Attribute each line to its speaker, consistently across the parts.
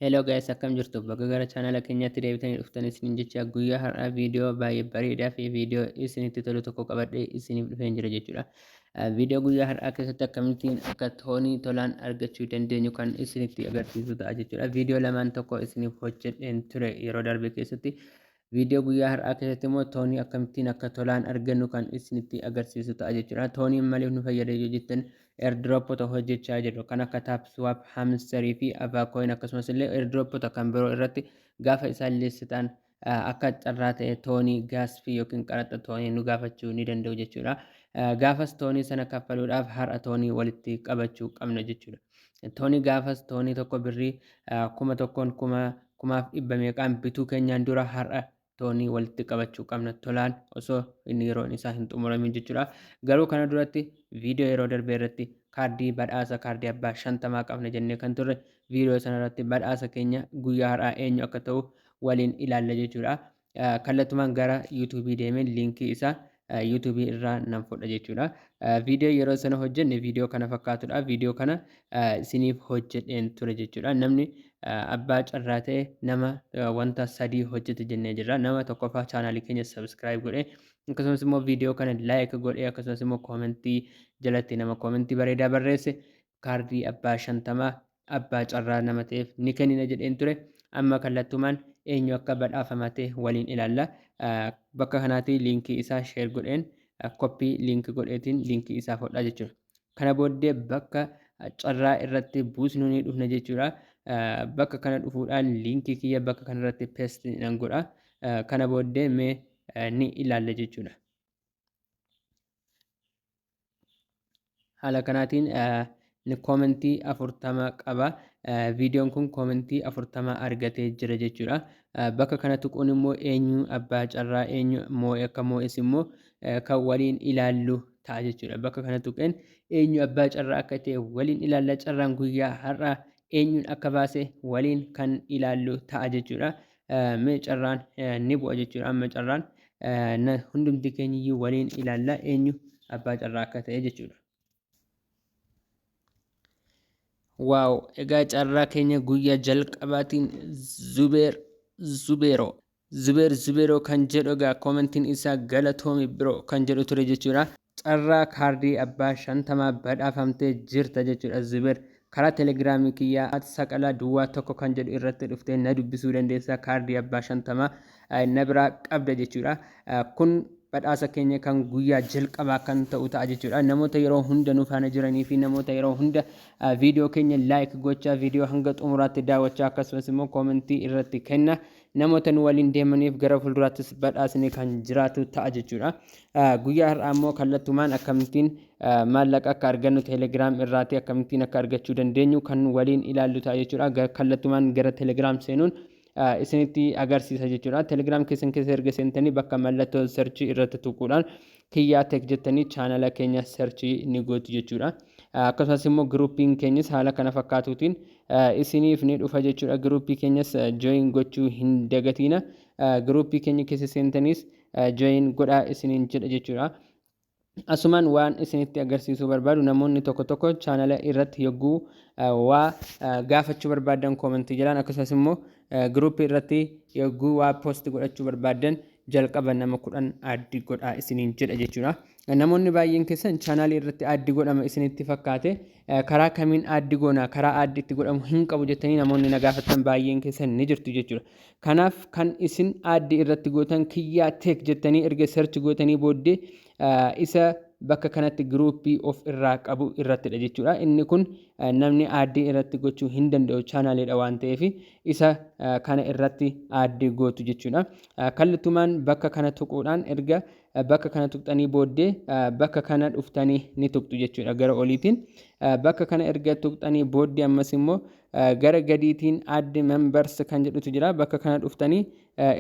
Speaker 1: Hello guys akkam jirtu baga gara chaanala keenyaatti deebitanii dhuftanii isiniin jecha guyyaa har'aa viidiyoo baay'ee bareedaa fi viidiyoo isinitti tolu tokko qabadhee isiniif dhufeen jira jechuudha. Viidiyoo guyyaa har'aa keessatti akkamittiin akka toonii tolaan argachuu dandeenyu kan isinitti agarsiisu ta'a jechuudha. Viidiyoo lamaan tokko isiniif hojjedheen ture yeroo darbe keessatti. Viidiyoo guyyaa har'aa keessatti immoo toonii akkamittiin akka tolaan argannu kan isinitti agarsiisu ta'a jechuudha. Tooniin maliif nu fayyada yoo jettan airdropota hojjechaa jirru kan akka Tapswap, Hamster fi Avacoin akkasumas illee airdropota kan biroo irratti gaafa isaan liistitaan akka carraa ta'e toonii gaasfii yookiin qaraxa toonii nu gaafachuu ni danda'u jechuudha. Gaafas toonii sana kaffaluudhaaf har'a toonii walitti qabachuu qabna jechuudha. Toonii gaafas toonii tokko birrii kuma tokkoon kuma Kumaaf dhibba meeqaan bituu keenyaan dura har'a toonii walitti qabachuu qabna tolaan osoo inni yeroon isaa hin xumuramin jechuudha. Garuu kana duratti viidiyoo yeroo darbee irratti kaardii badhaasa kaardii abbaa shantamaa qabna jennee kan turre viidiyoo sana irratti badhaasa keenya guyyaa har'aa eenyu akka ta'u waliin ilaalla jechuudha. kallattumaan gara YouTube deemeen liinkii isaa YouTube irraa nan fudha jechuudha. Viidiyoo yeroo sana hojjenne viidiyoo kana fakkaatudha. Viidiyoo kana isiniif hojjedheen ture jechuudha. Namni abbaa carraa ta'e nama wanta sadii hojjete jennee jirra. Nama tokkoffaa chaanaalii keenya sabiskiraayib godhe akkasumas immoo viidiyoo kana laayik godhe akkasumas immoo koomentii jalatti nama koomentii bareedaa barreesse kaardii abbaa shantamaa abbaa carraa nama ta'eef ni kennina jedheen ture. Amma kallattumaan eenyu akka badhaafama ta'e waliin ilaalla. Bakka kanaatii liinkii isaa sheer godheen koppii liinki godheetiin liinkii isaa fudhaa jechuudha. Kana booddee bakka carraa irratti buusnu ni dhufna jechuudha. Bakka kana dhufuudhaan liinkii kiyya bakka kanarratti peest nan godha. Kana booddee mee ni ilaalla jechuudha. haala kanaatiin inni koomentii afurtama qaba. Viidiyoon kun koomentii afurtama argatee jira jechuudha. Bakka kana tuquun immoo eenyu abbaa carraa eenyu moo'e akka moo'es immoo kan waliin ilaallu ta'a jechuudha. Bakka kana tuqeen eenyu abbaa carraa akka ta'e waliin ilaalla carraan guyyaa har'aa eenyuun akka baase waliin kan ilaallu ta'a jechuudha. mee carraan ni bu'a jechuudha amma carraan hundumti keenyiyyuu waliin ilaalla eenyu abbaa carraa akka ta'e jechuudha. Waaw egaa carraa keenya guyyaa jalqabaatiin Zubeer Zubeeroo Zubeer Zubeeroo kan jedhu egaa koomentiin isaa galatoomi biroo kan jedhu ture jechuudha. Carraa kaardii abbaa 50 badhaafamtee jirta jechuudha Zuber. Karaa telegiraamii kiyyaa at saqalaa duwwaa tokko kan jedhu irratti dhuftee na dubbisuu dandeessa kaardii abbaa 50 na biraa qabda jechuudha. Kun badhaasa keenya kan guyyaa jalqabaa kan ta'u ta'a jechuudha. Namoota yeroo hunda nu faana jiranii fi namoota yeroo hunda viidiyoo keenya laayik gochaa viidiyoo hanga xumuraatti daawwachaa akkasumas immoo koomentii irratti kenna. Namoota nu waliin deemaniif gara fuulduraattis badhaasni kan jiraatu ta'a jechuudha. Guyyaa har'aa immoo kallattumaan akkamittiin maallaqa akka argannu teelegiraam irraatii akkamittiin akka argachuu dandeenyu kan waliin ilaallu ta'a jechuudha. Kallattumaan gara teelegiraam seenuun isinitti agarsiisa jechuudha. Teelegiraam keessan keessa erga seentanii bakka mallattoo sarchii irratti tuquudhaan Kiyyaa Tech jettanii chaanala keenya search ni gootu jechuudha. Akkasumas immoo giruupiin keenyas haala kana fakkaatuutiin isiniif ni dhufa jechuudha. Giruupii keenyas join gochuu hin dagatiina. Giruupii keenya keessa seentaniis join godhaa isiniin jedha jechuudha. Asumaan waan isinitti agarsiisuu barbaadu namoonni tokko tokko chaanala irratti yogguu waa gaafachuu barbaadan koomentii jalaan akkasumas immoo giruupii irratti yogguu waa poosti godhachuu barbaadan jalqaba nama kudhan addi godhaa isiniin jedha jechuudha. Namoonni baay'een keessan chaanaalii irratti addi godhama isinitti fakkaate karaa kamiin addi goona karaa addi itti godhamu hin qabu jettanii namoonni na gaafatan baay'een keessan ni jirtu jechuudha. Kanaaf kan isin addi irratti gootan kiyyaa teek jettanii erga search gootanii booddee isa bakka kanatti giruuppii of irraa qabu irrattidha jechuudha. Inni kun namni aaddii irratti gochuu hin danda'u chaanaaliidha waan ta'eef isa kana irratti aaddii gootu jechuudha. Kallattumaan bakka kana tuquudhaan erga bakka kana tuqxanii booddee bakka kana dhuftanii ni tuqxu jechuudha gara oliitiin. Bakka kana erga tuqxanii booddee ammas immoo gara gadiitiin aadde members kan jedhutu jira bakka kana dhuftanii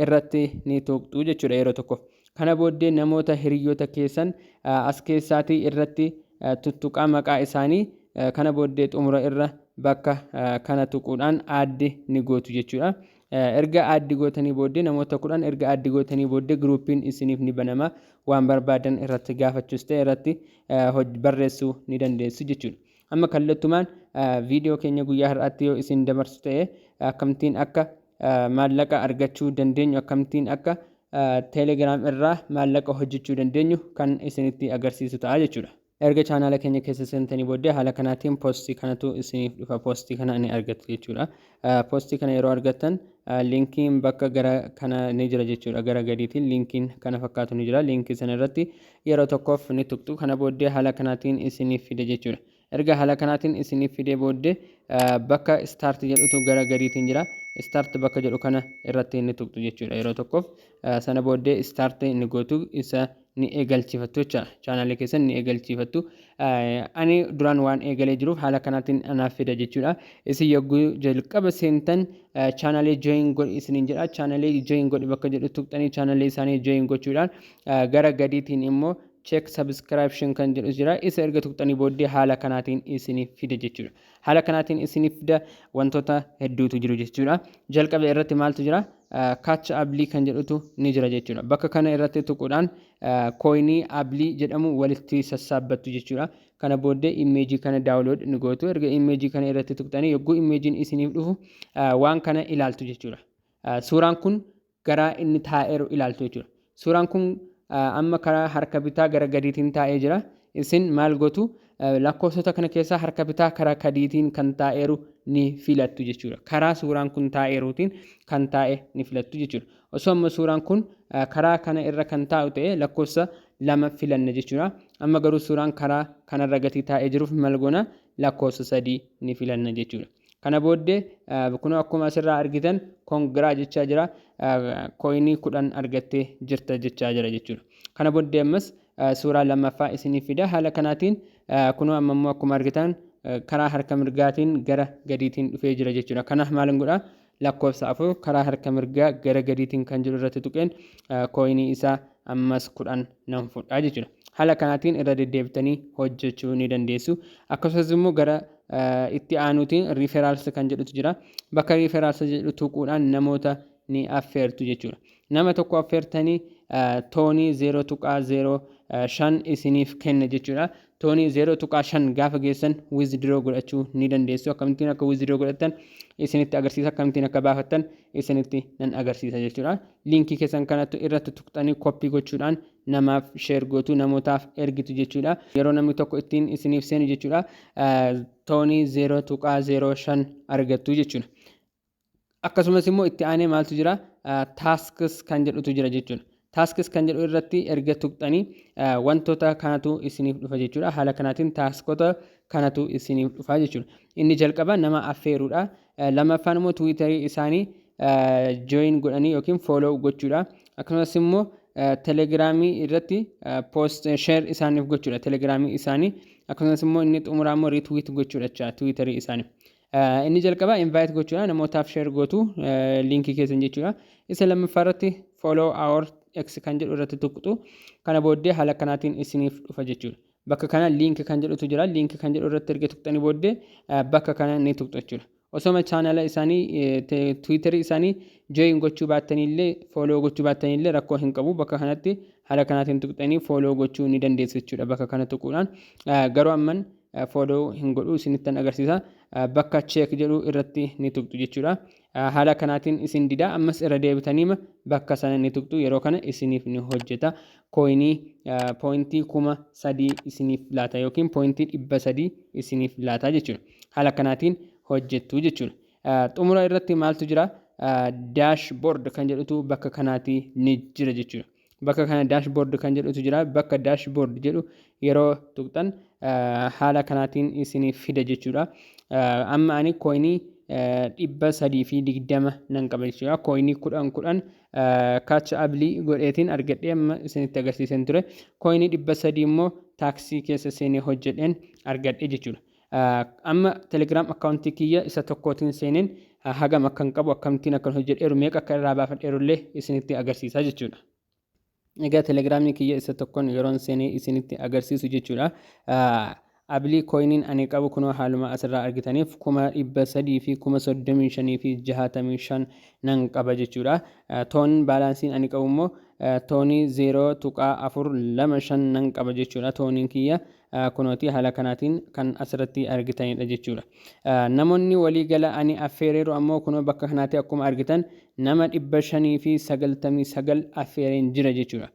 Speaker 1: irratti ni tuqxu jechuudha yeroo tokko. Kana booddee namoota hiriyyoota keessan as keessaatii irratti tuttuqaa maqaa isaanii kana booddee xumura irra bakka kana tuquudhaan aaddi ni gootu jechuudha. Erga aaddi gootanii booddee namoota kudhan erga aaddi gootanii booddee giruupiin isiniif ni banama waan barbaadan irratti gaafachuus ta'e irratti barreessuu ni dandeessu jechuudha. Amma kallattumaan viidiyoo keenya guyyaa har'aatti yoo isin dabarsu ta'e akkamittiin akka maallaqa argachuu dandeenyu akkamittiin akka teelegiraam irraa maallaqa hojjechuu dandeenyu kan isinitti agarsiisu ta'a jechuudha. Erga chaanaala keenya keessa seentanii booddee haala kanaatiin poostii kanatu isiniif dhufa poostii kana ni argattu jechuudha. Poostii kana yeroo argattan liinkiin bakka gara kana ni jira jechuudha gara gadiitiin liinkiin kana fakkaatu ni jira liinkii sana irratti yeroo tokkoof ni tuqxu kana booddee haala kanaatiin isiniif fida jechuudha. Erga haala kanaatiin isiniif fidee booddee bakka start jedhutu gara gadiitiin jira. Start bakka jedhu kana irratti inni tuqxu jechuudha yeroo tokkoof. Sana booddee start inni gootu isa ni eegalchiifattu jecha chaanaalii keessan ni eegalchiifattu. Ani duraan waan eegalee jiruuf haala kanaatiin anaaf fida jechuudha. Isin yogguu jalqaba seentan chaanaalii join godhi isiniin jedha. Chaanaalii join godhi bakka jedhu tuqxanii chaanaalii isaanii join gochuudhaan gara gadiitiin immoo check subscription kan jedhu jira isa erga tuqxanii booddee haala kanaatiin isiniif fida jechuudha haala kanaatiin isiniif fida wantoota hedduutu jiru jechuudha jalqaba irratti maaltu jira kaacha ablii kan jedhutu ni jira jechuudha bakka kana irratti tuquudhaan kooyinii ablii jedhamu walitti sassaabbattu jechuudha kana booddee immeejii kana daawulood ni gootu erga immeejii kana irratti tuqxanii yogguu immeejiin isiniif dhufu waan kana ilaaltu jechuudha suuraan kun garaa inni taa'eeru ilaaltu jechuudha. Suuraan kun amma karaa harka bitaa gara gadiitiin taa'ee jira. Isin maal gootu? Lakkoofsota kana keessaa harka bitaa karaa gadiitiin kan taa'eeru ni filattu jechuudha. Karaa suuraan kun taa'eeruutiin kan taa'e ni filattu jechuudha. Osoo amma suuraan kun karaa kana irra kan taa'u ta'e lakkoofsa lama filanna jechuudha. Amma garuu suuraan karaa kanarra gatii taa'ee jiruuf maal goona? Lakkoofsa sadii ni filanna jechuudha. Kana booddee kunoo akkuma asirraa argitan kongiraa jechaa jira kooyinii kudhan argattee jirta jechaa jira jechuudha. Kana booddee ammas suuraa lammaffaa isiniif fida haala kanaatiin kunoo amma immoo akkuma argitan karaa harka mirgaatiin gara gadiitiin dhufee jira jechuudha. Kanaaf maal godha lakkoofsa 4 karaa harka mirgaa gara gadiitiin kan jiru irratti tuqeen kooyinii isaa ammas 10 nan fudhaa jechuudha. Haala kanaatiin irra deddeebitanii hojjechuu ni dandeessu. Akkasumas immoo gara itti aanuutiin riiferaals kan jedhutu jira. Bakka riiferaals jedhu tuquudhaan namoota ni affeertu jechuudha. Nama tokko affeertanii toonii 0.05 isiniif kenna jechuudha. toonii 0.5 gaafa geessan withdraw godhachuu ni dandeessu akkamittiin akka withdraw godhattan isinitti agarsiisa akkamittiin akka baafattan isinitti nan agarsiisa jechuudha liinkii keessan kanattu irratti tuqxanii koppii gochuudhaan namaaf sheer gootu namootaaf ergitu jechuudha yeroo namni tokko ittiin isiniif seenu jechuudha toonii 0.05 argattu jechuudha akkasumas immoo itti aanee maaltu jira tasks kan jedhutu jira jechuudha. Tasks kan jedhu irratti erga tuqxanii wantoota kanatu isiniif dhufa jechuudha. Haala kanaatiin taaskota kanatu isiniif dhufa jechuudha. Inni jalqaba nama affeeruudha. Lammaffaan immoo tiwiitarii isaanii join godhanii yookiin follow gochuudha. Akkasumas immoo telegiraamii irratti post share isaaniif gochuudha telegiraamii isaanii. Akkasumas immoo inni xumuraa immoo retweet gochuudha jechuudha tiwiitarii isaanii. Inni jalqabaa invite gochuudha namootaaf share gootu linkii keessan jechuudha. Isa lammaffaa irratti follow our x kan jedhu irratti tuqxu kana booddee haala kanaatiin isiniif dhufa jechuudha. Bakka kana link kan jedhutu jira link kan jedhu irratti erga tuqxanii booddee bakka kana ni tuqxu jechuudha. Osoma chaanala isaanii tiwiitarii isaanii join gochuu baattaniillee follow gochuu baattaniillee rakkoo hin qabu bakka kanatti haala kanaatiin tuqxanii follow gochuu ni dandeessu jechuudha bakka kana tuquudhaan garuu amman foodoo hin godhu isinittan agarsiisa bakka cheek jedhu irratti ni tuqxu jechuudha haala kanaatiin isin dida ammas irra deebitaniima bakka sana ni tuqxu yeroo kana isiniif ni hojjeta kooyinii pooyintii kuma sadii isiniif laata yookiin pooyintii dhibba sadii isiniif laata jechuudha haala kanaatiin hojjettu jechuudha xumura irratti maaltu jira daash boord kan jedhutu bakka kanaatii ni jira jechuudha bakka kana dashboard kan jedhutu jira bakka dashboard jedhu yeroo tuqxan haala kanaatiin isiniif fida jechuudha amma ani kooyinii dhibba sadii fi digdama nan qaba jechuudha kooyinii kudhan kudhan kaacha abilii godheetiin argadhee amma isinitti agarsiisan ture kooyinii dhibba sadii immoo taaksii keessa seenee hojjedheen argadhe jechuudha Amma telegram account kiyya isa tokkootiin seeneen hagam akkan qabu akkamittiin akkan hojjedheeru meeqa akka irraa baafadheeru illee isinitti agarsiisa jechuudha. Egaa telegiraamii kiyya isa tokkoon yeroon seenee isinitti agarsiisu jechuudha. Abilii kooyiniin ani qabu kunoo haaluma asirraa argitaniif kuma dhibba sadii fi kuma soddomii shanii fi jahaatamii shan nan qaba jechuudha. Toon baalaansiin ani qabu immoo toonii zeeroo tuqaa afur lama shan nan qaba jechuudha tooniin kiyya. Kunooti haala kanaatiin kan asirratti argitanidha jechuudha. Namoonni walii gala ani affeereeru ammoo kunoo bakka kanaatti akkuma argitan nama 599 affeereen jira jechuudha.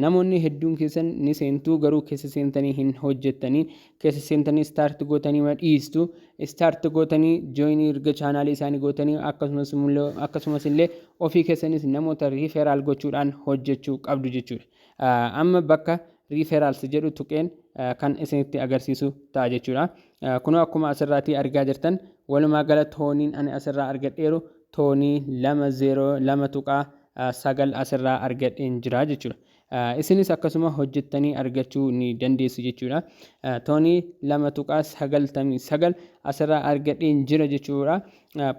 Speaker 1: Namoonni hedduun keessan ni seentuu garuu keessa seentanii hin hojjettanii keessa seentanii istaarti gootanii ma dhiistu istaarti gootanii jooyinii erga chaanaalii isaanii gootanii akkasumas illee ofii keessanis namoota riiferaal gochuudhaan hojjechuu qabdu jechuudha. Amma bakka referrals jedhu tuqeen kan isinitti agarsiisu ta'a jechuudha. Kunoo akkuma asirraatii argaa jirtan walumaa gala tooniin ani asirraa argadheeru toonii lama zeeroo lama tuqaa sagal asirraa argadheen jira jechuudha. Isinis akkasuma hojjettanii argachuu ni dandeessu jechuudha. Toonii lama tuqaa sagaltamii sagal asirraa argadheen jira jechuudha.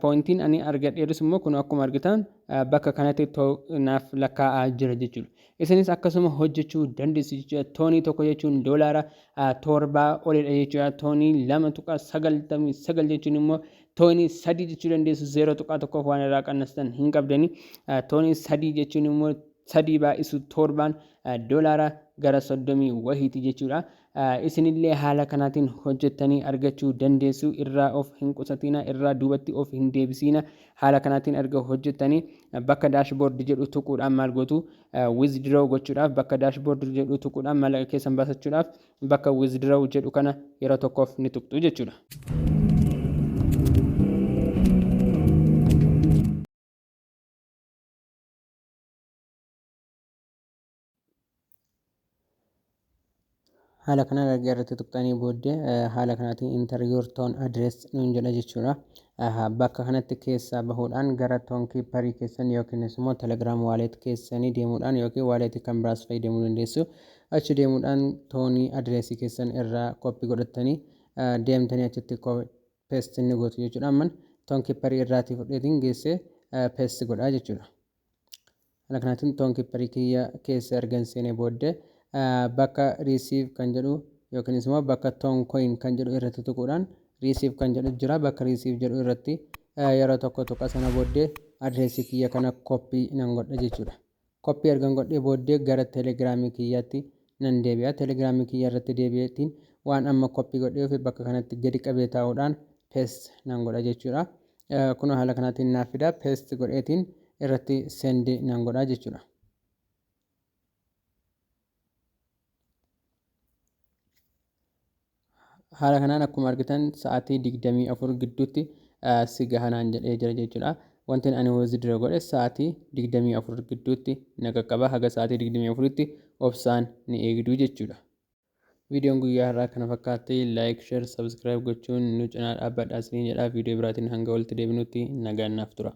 Speaker 1: Poointiin ani argadheerus immoo kun akkuma argitan bakka kanatti too naaf lakkaa'aa jira jechuudha. Isinis akkasuma hojjechuu dandeessu jechuudha. Toonii tokko jechuun doolaara torbaa olidha jechuudha. Toonii lama tuqaa sagaltamii sagal jechuun immoo toonii sadii jechuu dandeessu zeeroo tuqaa tokkoof waan irraa qannastan hin qabdani. Toonii sadii jechuun immoo sadii baay'isu torbaan doolaara gara soddomii wahiiti jechuudha. Isinillee haala kanaatiin hojjettanii argachuu dandeessu. Irraa of hin qusatiinaa, irraa duubatti of hin deebisiina. Haala kanaatiin erga hojjettanii bakka dashboard jedhu tuquudhaan maal gootu? Withdraw gochuudhaaf bakka dashboard jedhu tuquudhaan maallaqa keessan baasachuudhaaf bakka withdraw jedhu kana yeroo tokkoof ni tuqxu jechuudha. haala kana erga irratti tuqxanii booddee haala kanaatiin enter your tone address nuun jedha jechuudha. Bakka kanatti keessaa bahuudhaan gara toon kiipparii keessan yookiinis immoo telegiraam waaleet keessanii deemuudhaan yookiin waaleetii kan biraas fayyadamuu dandeessu. Achi deemuudhaan toonii adreesii keessan irraa koppii godhattanii deemtanii achitti peestii ni gootu jechuudha. Amman toon kiipparii irraatii fudheetiin geessee peestii godhaa jechuudha. Haala kanaatiin toon kipparii kiyya keessa ergan seenee boodde bakka receive kan jedhu yookiinis immoo bakka toon coin kan jedhu irratti tuquudhaan receive kan jedhu jira bakka receive jedhu irratti yeroo tokko tuqa sana booddee adreesii kiyya kana koppii nan godha jechuudha. Koppii ergan godhee booddee gara telegiraamii kiyyaatti nan deebi'a. Telegiraamii kiyya irratti deebi'eetiin waan amma koppii godhee fi bakka kanatti gadi qabee taa'uudhaan pest nan godha jechuudha. Kunoo haala kanaatiin naaf fida. Paste godheetiin irratti send nan godha jechuudha. Haala kanaan akkuma argitan sa'aatii 24 gidduutti si gahanaan jedhee jira jechuudha. Wanti ani withdraw godhe sa'aatii 24 gidduutti na qaqqaba. Haga sa'aatii 24tti obsaan ni eegdu jechuudha. Viidiyoon guyyaa har'aa kana fakkaatti. Like, share, subscribe gochuun nu cinaa dhaabbadhaa isiniin jedha. Viidiyoo biraatiin hanga walitti deebinutti nagaan naaf tura.